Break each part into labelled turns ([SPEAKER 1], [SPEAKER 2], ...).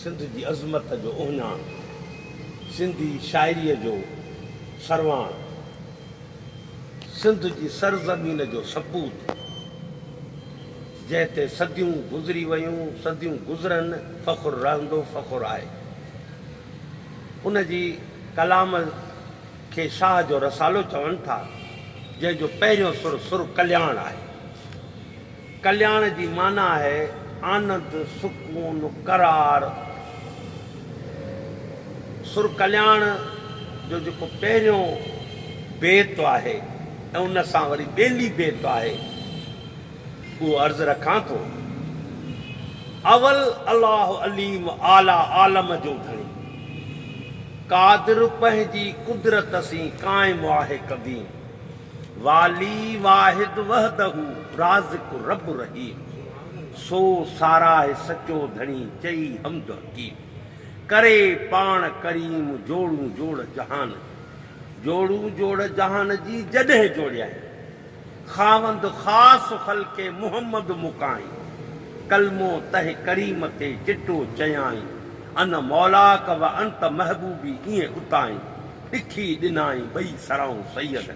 [SPEAKER 1] سنڌ جي عظمت جو اهڃاڻ، سنڌي شاعريء جو سرواڻ، سنڌ جي سرزمين جو سپوت، جنهن تي صديون گذري ويون، صديون گذرن، فخر رهندو، فخر آهي. ان جي ڪلام کي شاهه جو رسالو چون ٿا، جنهن جو پهريون سر، سر ڪلياڻ آهي. ڪلياڻ جي معنيٰ آهي آنند، سڪون، قرار. سر ڪلياڻ جو جيڪو پهريون بيت آهي ۽ ان سان وري ٻيلي بيت آهي، اهو عرض رکان ٿو، اول الله عليم اعليٰ عالم جو ڌڻي، قادر پنهنجي قدرت سين قائم آهي قديم. والي واحد وحده رازق رب رحيم سو ساراهه سچو ڌڻي چئي حمد حڪيم ڪري پاڻ ڪريم جوڙون جوڙ جهان جي جوڙون جوڙ جهان جي جڏهن جوڙيائين خاوند خاص خلق محمد مڪائين ڪلمو تنهن ڪريم تي چٽو چيائين ان مولاڪ وانت محبوبي ائين اتائين ڏکي ڏنائين ٻئي سرائون سيد ۾،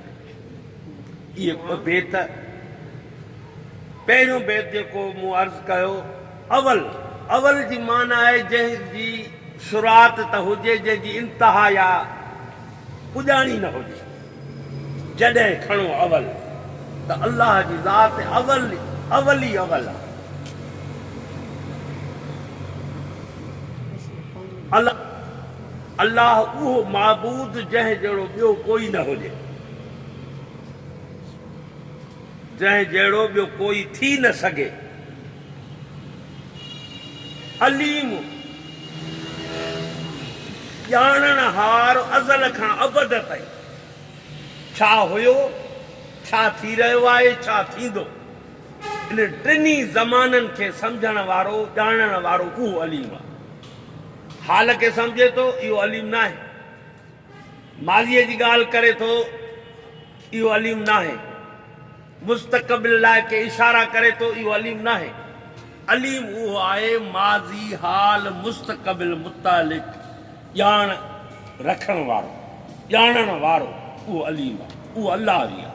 [SPEAKER 1] اهي ٻه بيت، پهريون بيت جيڪو مون عرض ڪيو، اول، اول جي معنيٰ آهي جنهن جي شروعات ته هجي جنهن جي انتها يا پڄاڻي نه هجي، جڏهن کڻو اول ته الله جي ذات اول، اول ئي اول آهي. الله. الله اهو معبود جنهن جهڙو ٻيو ڪوئي نه هجي، جنهن جهڙو ٻيو ڪوئي ٿي نه سگهي، عليم، ڄاڻڻهار ازل کان ابد تائين ڇا هيو، ڇا ٿي رهيو آهي، ڇا ٿيندو، انهن ٽنهي زمانن کي سمجهڻ وارو، ڄاڻڻ وارو اهو عليم آهي. حال کي سمجهي ٿو، اهو عليم ناهي. ماضيء جي ڳالهه ڪري ٿو، اهو عليم ناهي. مستقبل ڏانهن ڪي اشارا ڪري ٿو، اهو عليم ناهي. عليم اهو آهي، ماضي، حال، مستقبل متعلق ڄاڻ رکڻ وارو، ڄاڻڻ وارو، اهو عليم آهي. اهو الله ئي آهي.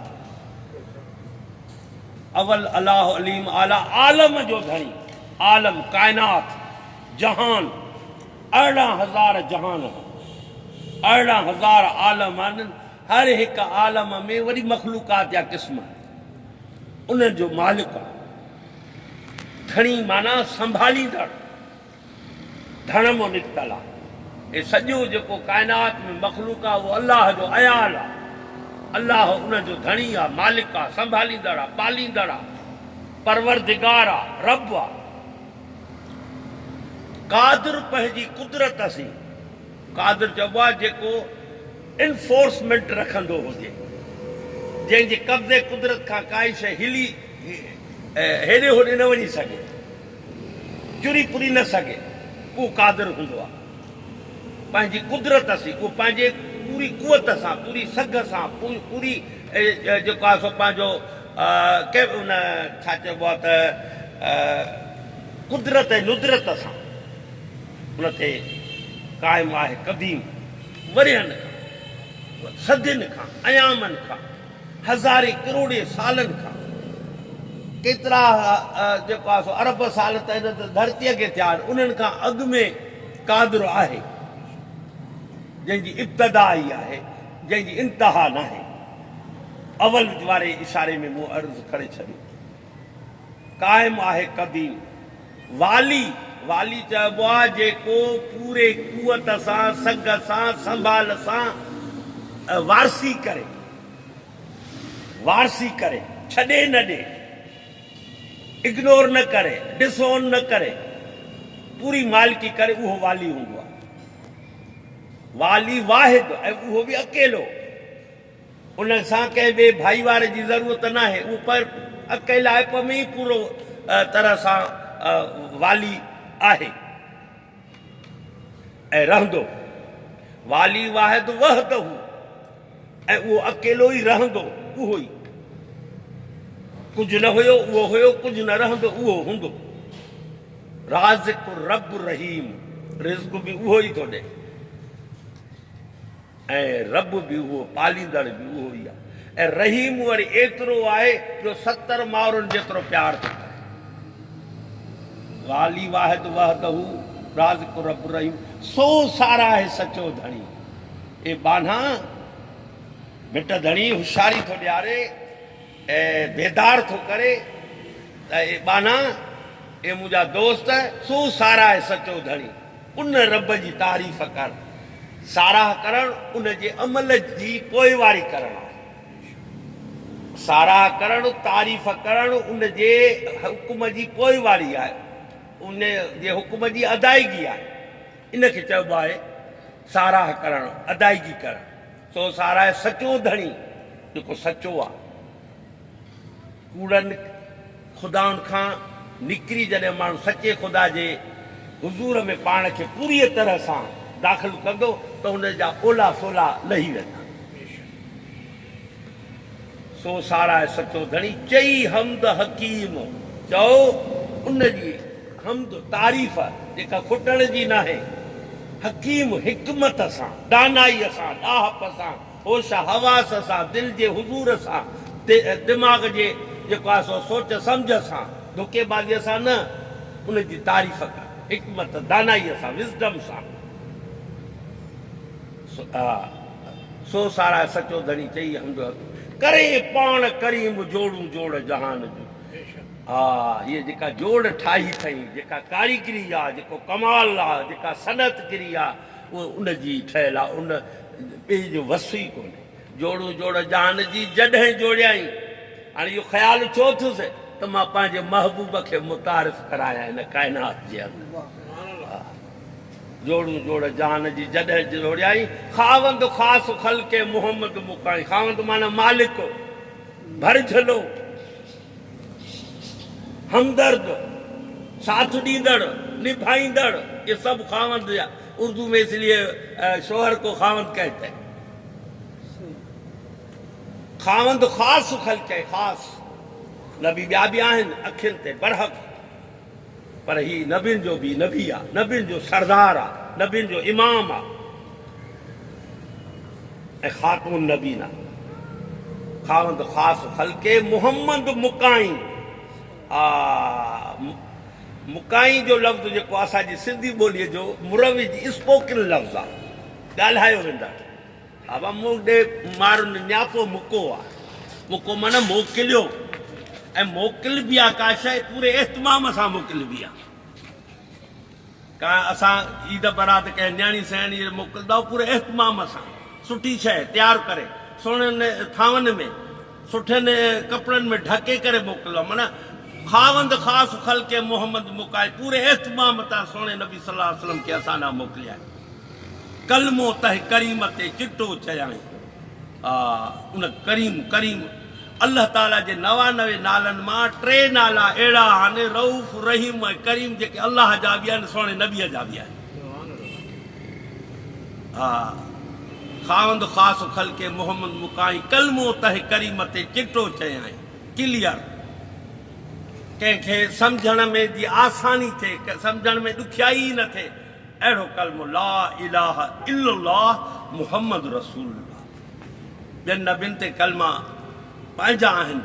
[SPEAKER 1] اول الله عليم اعليٰ، عالم جو ڌڻي، عالم، ڪائنات. جهان، ارڙهن هزار جهان هن، ارڙهن هزار عالم هن، هر هڪ عالم ۾ وري مخلوقات يا قسم آهي، انهن جو مالڪ آهي. ڌڻي معنيٰ سنڀاليندڙ، ڌڻم نڪتل آهي. هي سڄو جيڪو ڪائنات ۾ مخلوق آهي اهو الله جو عيال آهي. الله ان جو ڌڻي آهي، مالڪ آهي، سنڀاليندڙ آهي، پاليندڙ آهي، پروردگار آهي، رب آهي. قادر پنهنجي قدرت سين قادر چئبو آهي جيڪو انفورسمينٽ رکندو هجي جنهن جي قبضي قدرت کان ڪائي شيء هلي هيڏي هوڏي نه وڃي سگهي چري پري نه سگهي اهو قادر هوندو آهي پنهنجي قدرت سين اهو پنهنجي پوري قوت سان پوري سگهه سان پوري جيڪو آهي سو پنهنجو ڪي ان ڇا چئبو آ ته قدرت ۽ ندرت سان ان تي قائم آهي قديم ورهين کان صدين کان ايامن کان هزارين ڪروڙين سالن کان ڪيترا جيڪو آ سو ارب سال ته هن ڌرتي کي ٿيا آهن انهن کان اڳ ۾ قادر آهي جنهن جي ابتدا ئي آهي جنهن جي انتها ناهي. اول واري اشاري ۾ مون عرض ڪري ڇڏيو ته قائم آهي قديم والي، والي چئبو آ جيڪو پوري قوت سان، سگهه سان، سنڀال سان وارثي ڪري، وارثي ڪري، ڇڏي نه ڏي، اگنور نه ڪري، ڊس اون نه ڪري، پوري مالڪي ڪري اهو والي هوندو آ. والي واحد ۽ اهو به اڪيلو. ان سان ڪنهن ٻئي ڀائيوار جي ضرورت ناهي. اهو پر اڪيلائپ ۾ ئي پورو طرح سان والي آهي ۽ رهندو. والي واحد وحده. ۽ اهو اڪيلو ئي رهندو، اهو ئي. ڪجهه نه هيو، اهو هيو، ڪجهه نه رهندو، اهو هوندو. رازق الرب الرحيم، رزق به اهو ئي ٿو ڏئي ۽ رب به اهو، پاليندڙ به اهو ئي آهي ۽ رحيم وري ايترو آهي جو ستر مائرن جيترو پيار ٿو ڪري. والي واحد وحده رازق الرب الرحيم، سو ساراهه سچو ڌڻي. اي ٻانها! مٽ ڌڻي هوشياري ٿو ڏياري ۽ بيدار ٿو ڪري ته اي ٻانها! اي منهنجا دوست! سو ساراهه سچو ڌڻي ان رب جي تعريف ڪر. ساراهه ڪرڻ ان جي عمل جي پوئواري ڪرڻ آهي. ساراهه ڪرڻ، تعريف ڪرڻ، ان جي حڪم جي پوئواري آهي، ان جي حڪم جي ادائيگي آهي. ان کي چئبو آهي ساراهه ڪرڻ، ادائگي ڪرڻ. سو ساراهه سچو ڌڻي، جيڪو سچو آ. ڪوڙن خدائن کان نڪري جڏهن ماڻهو سچي خدا جي حضور ۾ پاڻ کي پوريء طرح سان داخل ڪندو ته ان جا اولا سولا لهي ويندا. سو ساراهه سچو ڌڻي، چئي حمد حڪيم چئو. ان جي حمد، تعريف، جيڪا کٽڻ جي ناهي. حڪيم حڪمت سان، دانائيء سان، ڏاهپ سان، هوش حواس سان، دل جي حضور سان، دماغ جي جيڪو آهي سو سوچ سمجهه سان، ڌوڪي بازيء سان نه، ان جي تعريف ڪر، حڪمت، دانائيء سان، Wisdom، سان. سو ساراهه سچو ڌڻي چئي حمد حق. ڪرين پاڻ ڪريم جوڙون جوڙ جهان جو. ها هيء جيڪا جوڙ ٺاهي ٿئين، جيڪا ڪاريگري آ، جيڪو ڪمال آ، جيڪا صنعت گري آ، اهو ان جي ئي ٺهيل آ، ان ٻئي جو وصف ئي ڪونهي. جوڙون جوڙ جهان جي جڏهن جوڙيائين، هاڻي اهو خيال اٿيو اٿس ته مان پنهنجي محبوب کي متعارف ڪرايان هن ڪائنات جي اندر. جوڙون جوڙ جهان جي جڏهن جوڙيائين. خاوند خاص خلق محمد مکائين. خاوند معنيٰ مالڪ، ڀرجهلو، همدرد، ساٿ ڏيندڙ، نڀائيندڙ، اهي سڀ خاوند جا اردو ۾ اس ليئي شوهر ڪو خاوند ڪهتا هي. خاوند خاص خلق هي خاص نبي ٻيا به آهن اکين تي برحق. پر هي نبين جو به نبي آ، نبين جو سردار آ، نبين جو امام آ ۽ خاتون نبين آ. خاوند خاص خلق محمد مڪائين آ. مڪائين جو لفظ جيڪو اسان جي سنڌي ٻوليء جو مروج اسپوڪن لفظ آ، ڳالهايو ويندڙ. ابا مون ڏي مار نڃاپو مڪو آ. مڪو معنيٰ موڪليو ۽ موڪلبي آ ڪا شيء پوري اهتمام سان موڪلبي آ. ڪانه اسان عيد برات ڪنهن نياڻي سياڻي ڏي موڪلدائون پوري اهتمام سان سٺي شيء تيار ڪري سهڻين ٿانون ۾ سٺين ڪپڙن ۾ ڍڪي ڪري موڪلدائون معنيٰ خاوند خاص خلقه محمد مڪائي پوري اهتمام تان سهڻي نبي صلي الله عليه وسلم کي اسان ڏانهن موڪليائين. ڪلمو تنهن ڪريم تي چٽو چيائين. آء ان ڪريم، ڪريم، الله تعاليٰ جي نوانوي نالن مان ٽي نالا اهڙا آهن، رئوف، رحيم ۽ ڪريم جيڪي الله جا به آهن سهڻي نبيء جا به آهن. آء خاوند خاص خلق محمد مڪائين ڪلمو تنهن ڪريم تي چٽو چيائين. Clear، ڪنهن کي سمجهڻ ۾ جي آساني ٿئي، سمجهڻ ۾ ڏکيائي ئي نه ٿئي. اهڙو ڪلمو لا اله الا الله محمد رسول الله ٻين نبين تي ڪلما پنهنجا آهن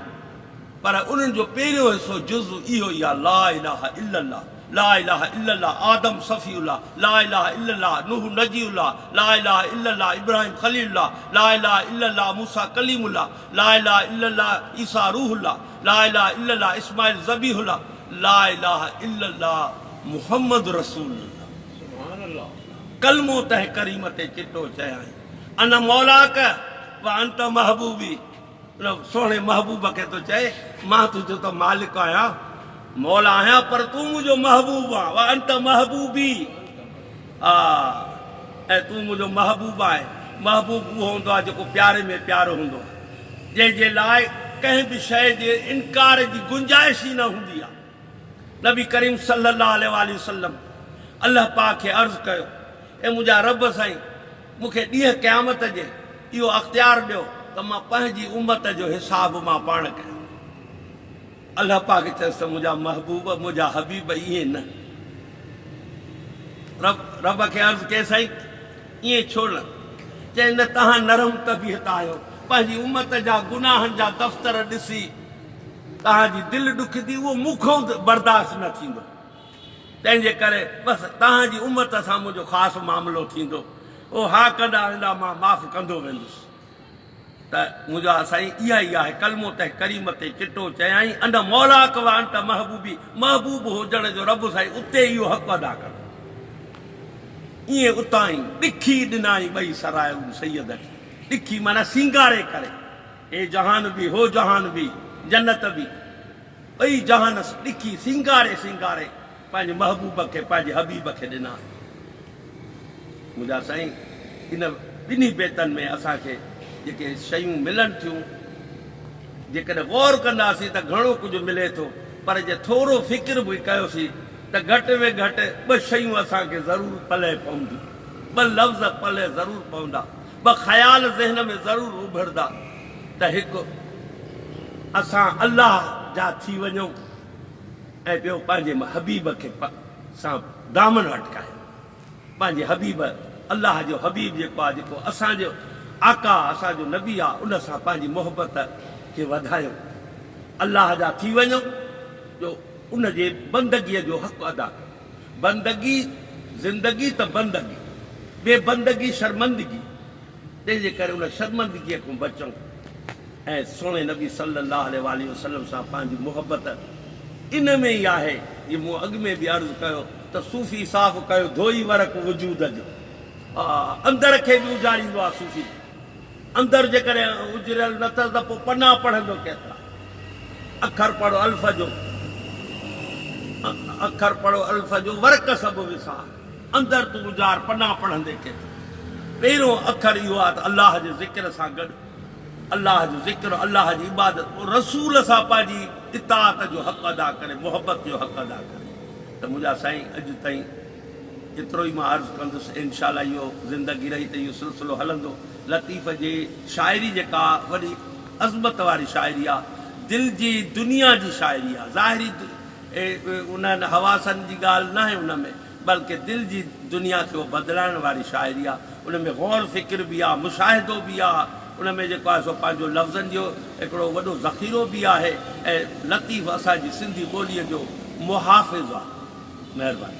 [SPEAKER 1] پر انهن جو پهريون حصو جز اهو ئي آهي لا اله الا الله لا اله الا الله آدم صفي الله لا اله الا الله نوح نجي الله لا اله الا الله ابراهيم خليل الله لا اله الا الله موسيٰ ڪليم الله لا اله الا الله عيسيٰ روح الله لا اله الا الله اسماعيل ذبيح الله لا اله الا الله محمد رسول الله ڪلمو تنهن ڪريم تي چٽو چيائين انا مولاڪ و انت محبوبي ان سهڻي محبوب کي ٿو چئي مان تنهنجو ته مالڪ آهيان مولا آهيان پر تون منهنجو محبوب آهين و انت محبوبي آ ۽ تون منهنجو محبوب آهين. محبوب اهو هوندو آهي جيڪو پياري ۾ پيارو هوندو آهي. جنهن جي لاء ڪنهن به شيء جي انڪار جي گنجائش ئي نه هوندي آهي. نبي ڪريم صلّي اللّٰه عليه واٰله وسلّم الله پاڪ کي عرض ڪيو، اي منهنجا ربّ سائين! مون کي ڏينهن قيامت جي اهو اختيار ڏيو ته مان پنهنجي امّت جو حساب مان پاڻ ڪيان. الله پاڪ چيس ته منهنجا محبوب، منهنجا حبيب ائين نه. رب رب کي عرض ڪيس سائين ائين ڇو نه؟ چيائين نه توهان نرم طبيعت آهيو، پنهنجي امت جا گناهن جا دفتر ڏسي توهان جي دل ڏکندي اهو مون کان برداشت نه ٿيندو، تنهنجي ڪري بس توهان جي امت سان منهنجو خاص معاملو ٿيندو، او ها ڪندا ويندا مان معاف ڪندو ويندس. ته منهنجا سائين اها ئي آهي ڪلمو تنهن ڪريم تي چٽو چيائين ان مولاک وانت محبوبي محبوب هجڻ جو رب سائين اتي اهو حق ادا ڪندو ائين اتانئي ڏکي ڏنائين ٻئي سرايون سيد کي ڏکي معنيٰ سينگاري ڪري هي جهان به هو جهان به جنت به ٻئي جهان ڏکي سينگاري سينگاري پنهنجي محبوب کي پنهنجي حبيب کي ڏنا منهنجا سائين ان ٻنهي بيتن ۾ اسان کي جيڪي شيون ملن ٿيون جيڪڏهن غور ڪنداسين ته گهڻو ڪجهه ملي ٿو پر جي ٿورو فڪر به ڪيوسين ته گهٽ ۾ گهٽ ٻه شيون اسان کي ضرور پلئه پونديون ٻه لفظ پلئه ضرور پوندا ٻه خيال ذهن ۾ ضرور اڀردا ته هڪ اسان الله جا ٿي وڃون. ۽ ٻيو پنهنجي حبيب کي پ سان دامن اٽڪايو. پنهنجي حبيب، الله جو حبيب جيڪو آهي، جيڪو اسان جو آقا، اسان جو نبي آهي، ان سان پنهنجي محبت کي وڌايو. الله جا ٿي وڃو جو ان جي بندگيء جو حق ادا ڪيو. بندگي، زندگي ته بندگي، بي بندگي شرمندگي. تنهن جي ڪري ان شرمندگيء کان بچئون ۽ سهڻي نبي صلّي اللّٰه عليه واٰله وسلّم سان پنهنجي محبّت ان ۾ ئي آهي، جيئن مون اڳ ۾ به عرض ڪيو ته صوفي صاف ڪيو ڌوئي ورق وجود جو، اندر کي به اجاريندو آهي صوفي جي اندر جيڪڏهن اجريل نه اٿس ته پوء پنا پڙهندو ڪيترا اکر پڙهو الف جو اکر پڙهو الف جو ورق سڀ وسار. اندر تون اجار پناهه پڙهندي ڪين ٿو. پهريون اکر اهو آهي ته الله جي ذڪر سان گڏ الله جو ذڪر، الله جي عبادت، پوء رسول سان پنهنجي اطاعت جو حق ادا ڪري، محبت جو حق ادا ڪري ته منهنجا سائين اڄ تائين ايترو ئي مان عرض ڪندس انشاء الله اهو زندگي رهي ته اهو سلسلو هلندو. لطيف جي شاعري جيڪا وڏي عظمت واري شاعري آهي دل جي دنيا جي شاعري آهي ظاهري ان حواسن جي ڳالهه ناهي ان ۾ بلڪه دل جي دنيا کي اهو بدلائڻ واري شاعري آهي. ان ۾ غور فڪر به آهي، مشاهدو به آهي، ان ۾ جيڪو آهي سو پنهنجو لفظن جو هڪڙو وڏو ذخيرو به آهي ۽ لطيف اسان جي سنڌي ٻوليء جو محافظ آهي. مهرباني.